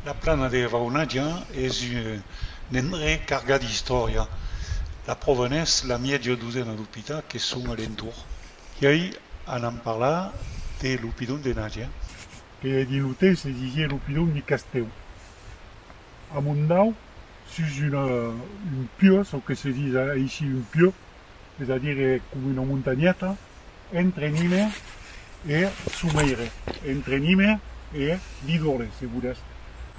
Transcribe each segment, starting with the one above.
La plana de Raunatge es un endrech cargat d'istòria. La pròva n'es la mièja dosena d'opitas que son a l'entorn. I ei anam parlar de l'opidon de Natge. Que hè dins lo teu se disie lo pidon di Castèu. Amondau sus una un pieu, çò que se dis aicí un pieu, es a dire coma una montanheta, entre Nime e Someire, entre Nime e Didole, se volètz.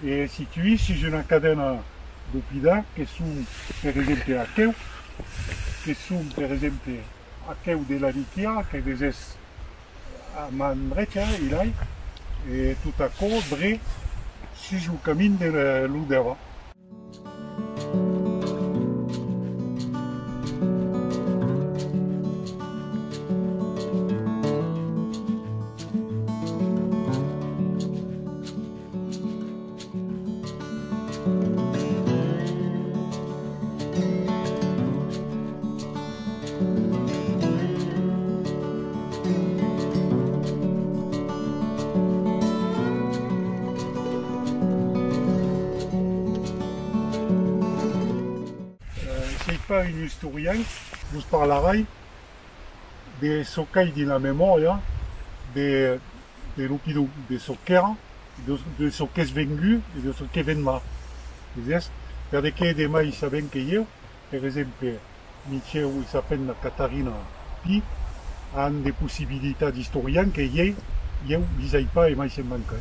E situís sus una cadena d'opidar que son per exemple aqueu, que son per exemple aqueu de la Niquia, que vesètz A man drecha i lai e tot aquò dret sus lo camin de lo davant. Soi pas un istorian, vos parlarai de çò qu'ai dins la memòria de e lo pidon de çò qu'èra, de çò qu'es vengut e de çò que vendrà. Vesiás? Perdequé demai sabent que ieu, per exemple, Michèu e sa femna Catarina Pi an de possibilitats d'istorian que ieu, ieu lis ai pas e mai se'n manca.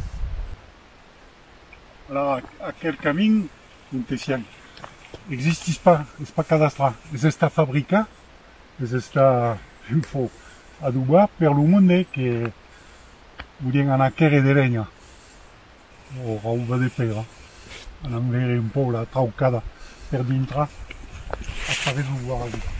Alà, aquel camin montesian existís pas, es pas cadastrat, es estat fabricat es estar un fo adobar per lo monde que volián anar quèrre de lenha o rauba de pèira, anam veire un pòu la traucada per dintra a Parets lo Guarani.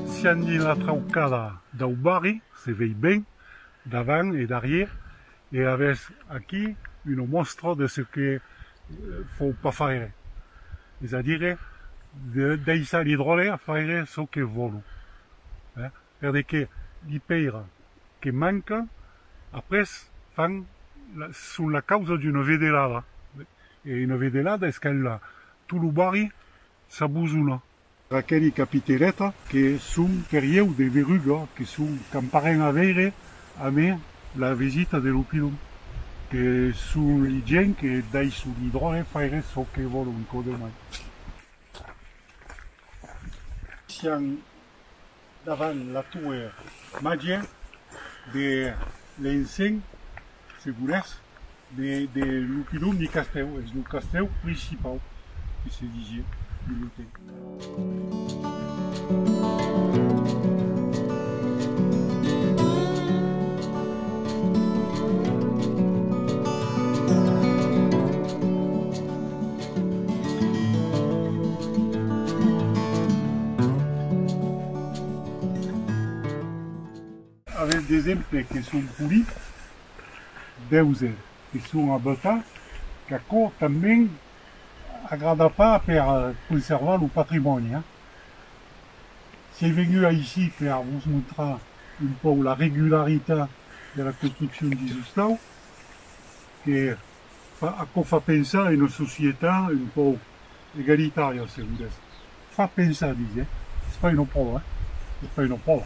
Siandi la traucada dau barri, se vei ben, davant e darrier, e avètz aquí una mòstra de çò que vòu pas faire, es a dire de daissar li dròlle a faire çò que vòlu. Per de que li pèira que manca, après fan la son la causa d'una vedelada. E una vedelada es quand la tot lo barri s'abusona. Aqueli capitereta que son per ieu de Veruga que son camparen a veire a me la visita de lo pilon. Que son li gent que daiso li dròlle faire çò que vòlon, codemai. Sian Davant la toue màgia de l'ensenh, se volètz, de lo pilon de castèu, es lo castèu principau que se disie de l'otèl. Avètz d'exemples que son polits, deuses que son abetats, qu'aquò tanben agrada pas per conservar lo patrimòni. Siei vengut aicí per vos montrar un pauc la regularitat de la construccion dins Ostau, que fa aquò fa pensar una societat un pauc egalitària se volètz, fa pensar disi eh, es pas una pròva eh, es pas una pròva.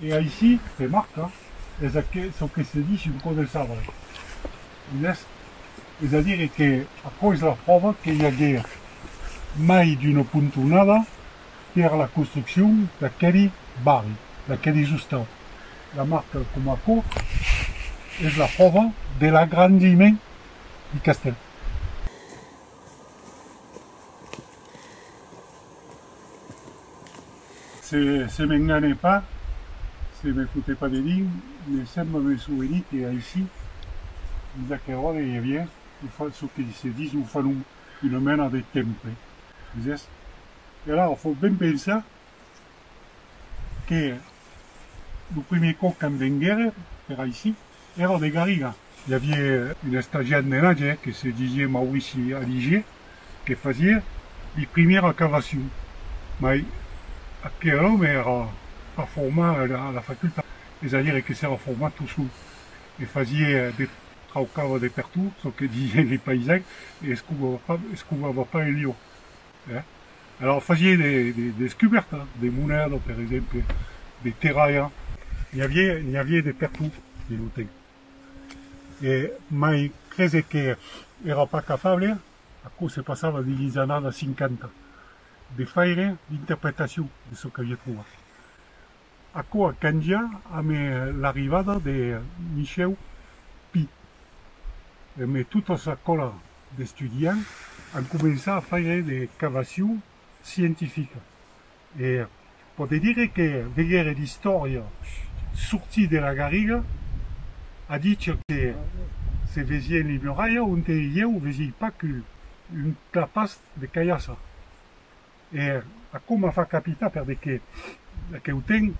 E aicí se marca, es aqué çò que se dich un cò de sabre, un èst, es a dire que aquò es la pròva que i aguèt mai d'una pontonada per la construccion d'aqueli barri, d'aqueli zostat. La marca coma aquò es la pròva de l'agrandiment di castèl. Se m'engane pas, se me fote pas de dinc, me sembla me souvenir que aicí, dins aquel òrdre, i aviá çò que se ditz lo fanum, una mena de temple. Vesètz? E alara, fau ben pensar que lo primier còp qu'an venguère per aicí èra de Garriga. I avié un estagiat menatge que se disié Maurici Aligé que fasié li primier acavacion, mai aquel òme èra pas format a la facultat, es a dire que s'èra format tot sol e fasié de traucava de pertot çò que disién li paisans e escovava pas en liò. Eh? Alors fasie de, de descubèrta, de moneda, per exemple, de terralha. N'i avié, n'i avié de pertout, de lo temps. E mai crese que èra pas capable, aquò se passava dins lhis annadas 50, de faire d'interpretacion de çò qu'avié trovat. Aquò a cangiat amb l'arribada de Michèu Pi. Emé tota sa còla d'estudiants an començat a faire de cavacion scientifica e pòde dire que veguère l'istòria sortir de la garriga a ditge que se vesié en Limeralha onte ieu vesié pas qu'un clapast de cailhassa. Er aquò m'a fach capitar perbe que aqueu ten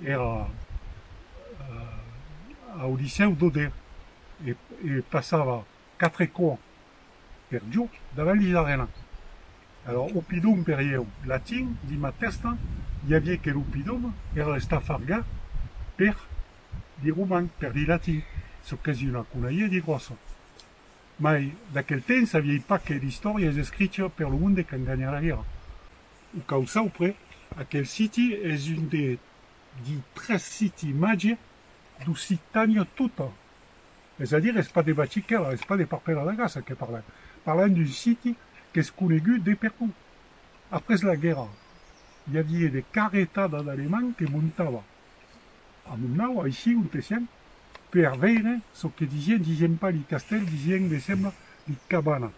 era au licèu d'Oder e passava quatre cò per jorn davant li arena. Alòrs au pidom per ieu latin dins ma tèsta i avié que lo pidom era estafarga per li roman, per li latin, çò qu'es una conalha di gròssa. Mai, d'aquel temps aviá un paquet d'istòrias a escrichir per lo monde quand ganhar la guèrra. O cau saupre, aquel siti es un de di tres siti màger d'Occitània tota. Es a dire, es pas de Bachiquèla, es pas de Parpèla la Gassa que parlam. Parlam d'un siti qu'es conegut de pertot. Après la guèrra, i avié de carretada d'Alemands que montavan. a Monau, aicí onte sèm, per veire çò que disien, disien pas li castèl, disien, me sembla, li cabana.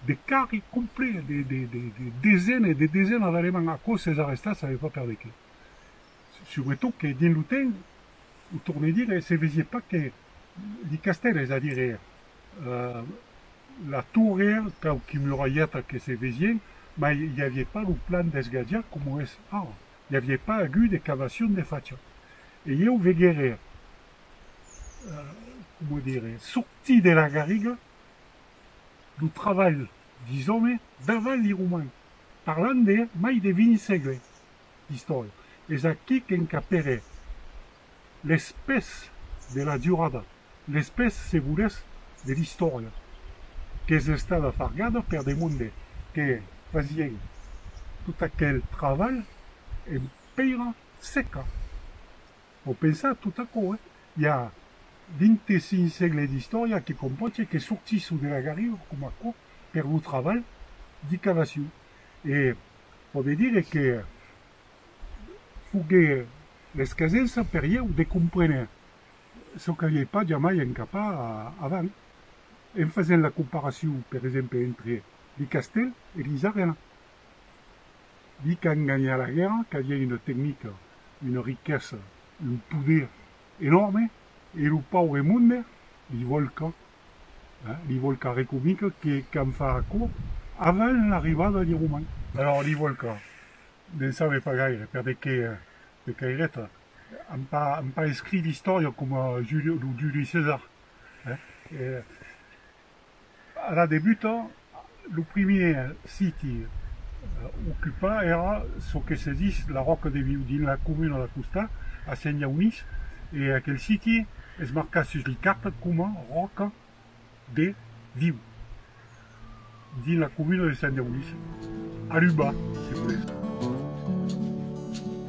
De carri complet de, de, de, de desena e de desena d'Alemands, aquò s'es arrestat save pas per de qué. Subretot que dins lo temps, o torne dire, se vesie pas que li castèl, es a dire, la torre, quauqui muralheta que se vesien, mai i avié pas lo plan d'esgatjar coma es ara. i avié pas agut de cavacion de facha, e ieu veguère, coma dire, sortir de la garriga lo travalh d'Isòme davant li Roman, parlant de mai de vint sègle d'istòria. Es aquí qu'encapère. les pès de la durada, les pès se volètz de l'istòria qu'es estada fargada per de monde que fasien tot aquel travalh en pèira seca. Vos pensatz tot aquò, eh? I a 25 sègle d'istòria que compòcha que sortissou de la garriga coma aquò per lo travalh d'i cavassiu e pòde dire que foguèt l'escasesa per ieu de compréner çò qu'aviái pas jamai encapat avant, en fasent la comparacion, per exemple, entre li castèl e li arena. Li qu'an ganhat la guèrra qu'avián una tecnica, una riquesa, un poder enòrme, e lo paure monde li vòlca Li vòlca recomica que cam far aquò avant l'arribada li Roman. Alòr li vòlca ne'n save pas gaire, per de qué de caireta, an pas an pas escrit d'istòria coma Juli lo Juli Cesar. Ara debuta Lo primièr siti ocupat èra çò que se ditz La Ròca de Viu, dins la comuna d'acostà, a Sent-Jaunís, e aquel siti es marcat sus l'icart coma Ròca de Viu, dins la comuna de Sent-Jaunís, a l'Uba, se volètz.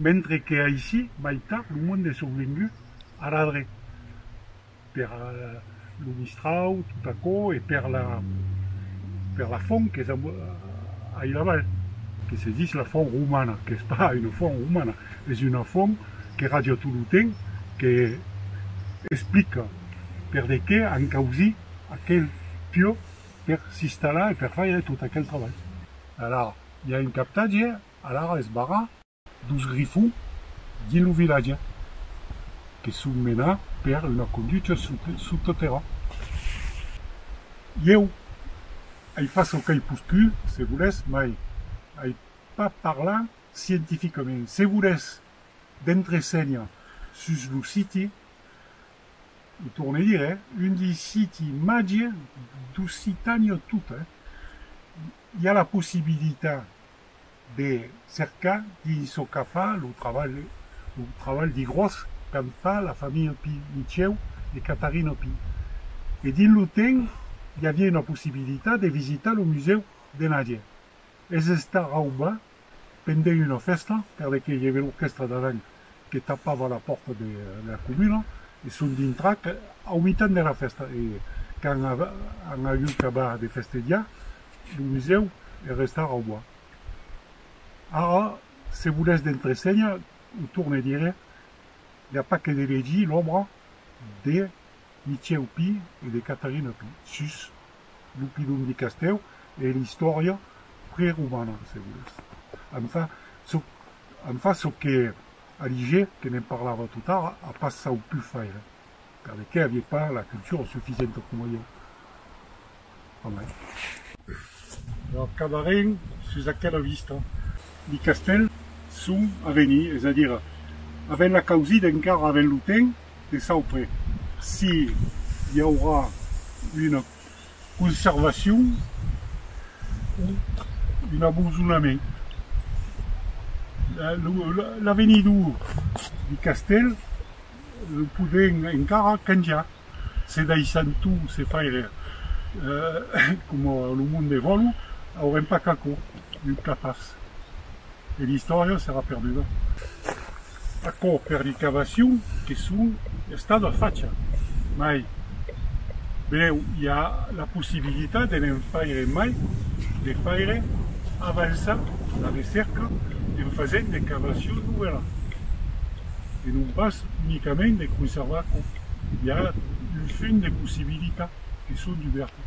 Mentre que aicí mai tard lo monde es oblengut a radre. Per lo mistrau, tot aquò, e per la, per la font qu'es a, a ilavall, que se ditz la font romana, qu'es pas una font romana, es una font que raja tot lo temps, que explica perdequé an causí aquel piò per s'istalar e per faire tot aquel trabalh. Alara, i a un captatge, alara es barrar. dos grifons dins lo vilatge que son menats per una conducha sottotèrra. Ieu ai fach çò qu'ai poscut, se volètz, mai ai pas parlat scientificament. Se volètz d'entresenha sus lo siti, o torne dire, un di siti màger d'Occitània tota, i a la possibilitat, de cercar qui çò qu'a fa lo trabalh, lo trabalh de gròs qu'an fa la familha Pi, Michèu e Catarina Pi. E dins lo temps i aviá una possibilitat de visitar lo musèu de Nadia. Es estar auba pendent una fèsta perque i aviá l'orquèstra davant que tapava la pòrta de la comuna, e son dintrach au mitan de la fèsta, e quand an agut cabar de festediar, lo musèu hè restar au bois. Ara, se volètz d'entresenhar, o torne dire, i a pas que de legir l'òbra de Michèu Pi e de Catarina Pi sus lo pilon du castèu e l'istòria preromana, se volètz. Enfin, çò En far çò que Aligé, que ne'n parlava totara, a pas sauput faire, per de qué avié pas la cultura suficienta coma jo. A mai. Lo acabarem sus aquela vista. Li castèl son a venir, es a dir, avèm la causida encara, avèm lo temps de saupre si i aurà una. conservacion o un abandonament. L'avenidor du castèl lo podèm encara canjar se daissam tot se faire coma lo monde vòlu, aurem pas qu'aquò, un cas pas e l'istòria serà perduda. Aquò per li qu'abacion que son estat a facha, mai brèu i a la possibilitat de ne'n faire mai, de faire avançar la recèrca en fasent de cavacion novèla e non pas unicament de conservar aquò, i a un fum de possibilitat que son dubèrtas.